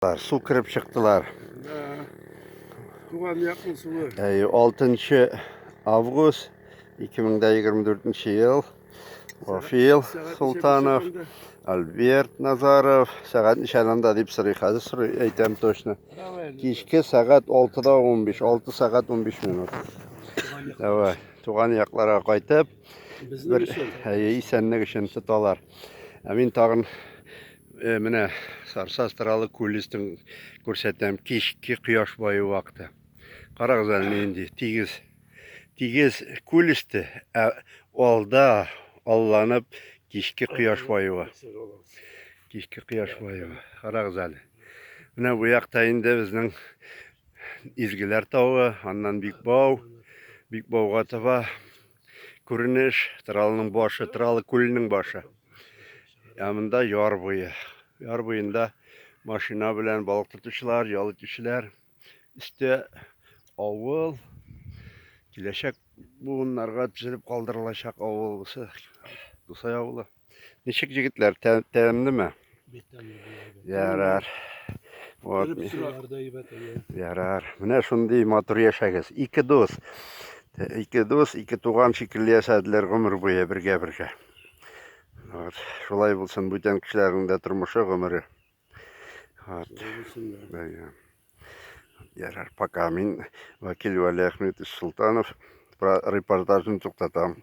Су кереп чыктылар. Туган якның суы. 6 август 2024 ел. Вафил Султанов, Альберт Назаров, сәгать ничәләндә дип сорый, хәзер сорый, әйтәм точно. Кичке сәгать 6-да 15, 6 сәгать 15 минут. Давай, туган якларга кайтып, бер исәнлек өчен тоталар. Ә мин тагын Э, менә Сарса Астралы күллестен күрсәтәм. Кичке кояш баю вакыты. Карагыз әле нинди тигез. Тигез күллесте, ә алда алланып кичке кояш баюы. Кичке кояш баюы. Карагыз әле. Менә бу якта инде безнең Изгеләр тавы, аннан Бикбау, Бикбауга таба Күренеш, Тралының башы, Тралы күленең башы. Ә монда яр буе. Яр буенда машина белән балык тотучылар, ял итүчеләр. Өстә авыл. Киләчәк буыннарга төзелеп калдырылачак авыл бусы. Дусай авылы. Ничек җегетләр, тәмлеме? Ярар. Вот. Ярар. Менә шундый матур яшәгез. Ике дус. Ике дус, ике туган шикелле яшәделәр гомер буе бергә-бергә. Вот. Шулай булсын бүтән кешеләрнең дә тормышы, гомере. Вот. Ярар, пока. Мин Вакил Вали Ахметович Султанов репортажын туктатам.